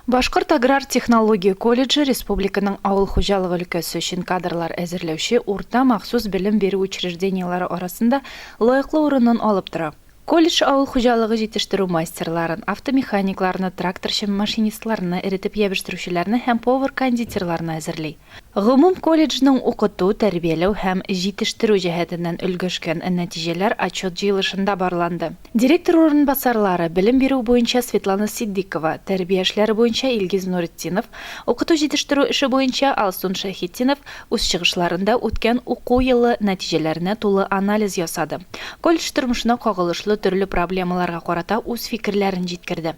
Башкорт аграр технология колледжы республиканың авыл хуҗалыгы өлкәсе өчен кадрлар әзерләүче урта махсус белем бирү учреждениеләре арасында лаеклы урынын алып тора. Колледж авыл хуҗалыгы җитештерү мастерларын, автомеханикларны, тракторчы-машинистларны, эретеп ябештерүчеләрне һәм повар-кондитерларны әзерли. Гомум колледжның укыту, тәрбияләү һәм җитештерү җәһәтеннән өлгәшкән нәтиҗәләр отчет җыелышында барланды. Директор урынбасарлары, белем бирү буенча Светлана Ситдикова, тәрбия эшләре буенча Илгиз Нуретдинов, укыту җитештерү эше буенча Алсун Шәйхетдинов үз чыгышларында үткән уку елы нәтиҗәләренә тулы анализ ясады, колледж тормышына кагылышлы төрле проблемаларга карата үз фикерләрен җиткерде.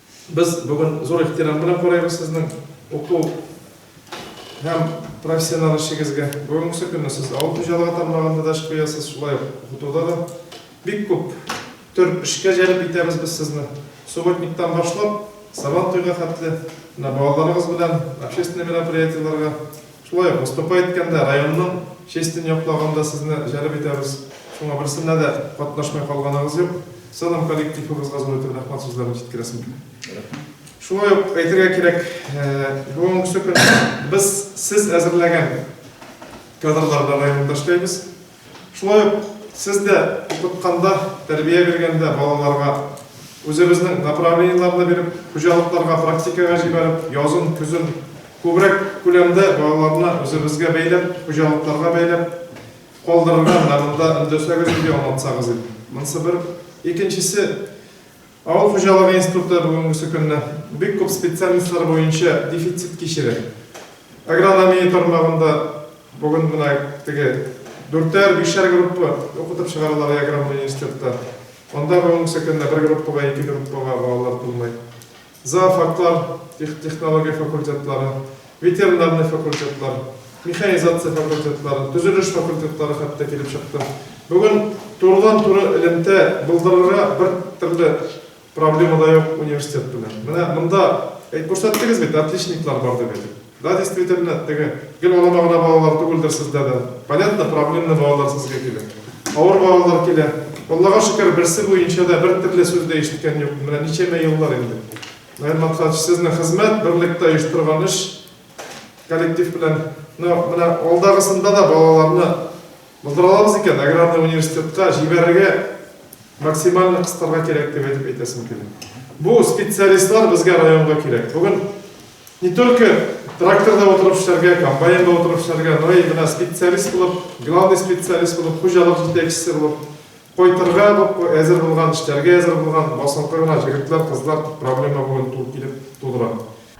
Без бүген зур ихтирам белән карыйбыз сезнең уку һәм профессиональ эшегезгә. Бүгенге көнне сез авыл хуҗалыгы тармагында да эш куясыз, шулай ук укытуда да. Бик күп төр эшкә җәлеп итәбез без сезне. Субботниктан башлап, Сабантуйга хәтле, менә балаларыгыз белән общественный мероприятиеләргә Шулай ук, Мостафа әйткәндә, районның честь тен яклаган да сезне җәлеп итәбез. Шуңа берсенә дә катнашмый калганыгыз юк. Сынам коллективыбызга зур итеп рәхмәт сүзләрен җиткерәсем килә. Шулай ук әйтергә кирәк, бүгенге көнне без сез әзерләгән кадрларда районда эшләйбез. Шулай ук сез дә укытканда, тәрбия биргәндә балаларга, үзебезнең направлениеләрне биреп, хуҗалыкларга практикага җибәреп, язын, көзен күбрәк күләмдә балаларны үзебезгә бәйләп, хуҗалыкларга бәйләп калдырырга менә монда өндәсәгез, диде, аңлатсагыз иде. Монсы бер. Икенчесе, Авыл хуҗалыгы институты бүгенгесе көнне бик күп специальностьлар буенча дефицит кичерә. Агрономия тармагында бүген менә теге дүртәр-бишәр группа укытып чыгаралар Яграм университетта. Анда бүгенгесе көнне бер группага, ике группага балалар тулмый. Зоофаклар, технология факультетлары, Ветеринарный факультетлар, механизация факультетлары, төзелеш факультетлары хәтта килеп чыкты. Бүген турыдан-туры элемтә булдырырга бер төрле проблема да юк университет белән. Менә монда әйт күрсәттегез бит, отличниклар бар дип әйтеп. Да, действительно, теге гел алама гына балалар түгелдер сездә дә. Понятно, проблемный балалар сезгә килә. Авыр балалар килә. Аллага шөкер, берсе буенча да бер төрле сүз дә ишеткән юк. Менә ничәмә еллар инде. Наил Максатович, сезнең хезмәт, берлектә оештырган эш, коллектив белән, но менә алдагысында да балаларны булдыра алабыз икән, аграрный университетка җибәрергә максимально кыстарга кирәк дип әйтеп әйтәсем килә. Бу специалистлар безгә районга кирәк. Бүген не только тракторда отырып эшләргә, комбайнда отырып эшләргә, но и менә специалист булып, главный специалист булып, хуҗалык җитәкчесе булып Кайтырга әзер булган, эшләргә әзер булган, басынкы гына җегетләр, кызлар дип проблема бүген ту килеп тудыра.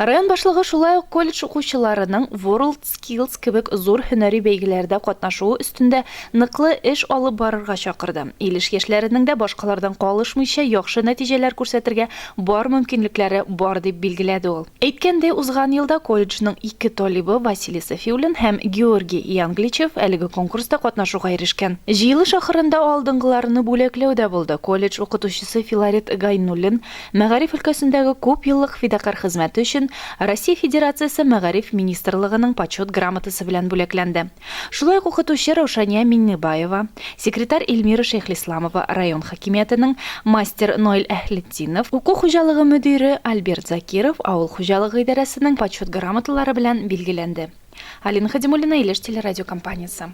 Район башлыгы шулай ук колледж укучыларының WorldSkills кебек зур һөнәри бәйгеләрдә катнашуы өстендә ныклы эш алып барырга чакырды, Илеш яшьләренең дә башкалардан калышмыйча яхшы нәтиҗәләр күрсәтергә бар мөмкинлекләре бар, дип билгеләде ул. Әйткәндәй, узган елда колледжның ике талибы, Василий Сафиуллин һәм Георгий Иангличев, әлеге конкурста катнашуга ирешкән. Җыелыш ахырында алдынгыларны бүләкләү дә булды. Колледж укытучысы Филарет Гайнуллин мәгариф өлкәсендәге күп еллык фидакарь хезмәте өчен Россия Федерациясе Мәгариф министрлыгының Почет грамотасы белән бүләкләнде. Шулай ук укытучы Раушания Миңнебаева, секретарь Эльмира Шәйхлисламова, район хакимиятенең мастер Ноэль Әһлетдинов, уку хуҗалыгы мөдире Альберт Закиров авыл хуҗалыгы идарәсенең Почет грамоталары белән билгеләнде. Алина Хадимуллина, Илеш телерадиокомпаниясе.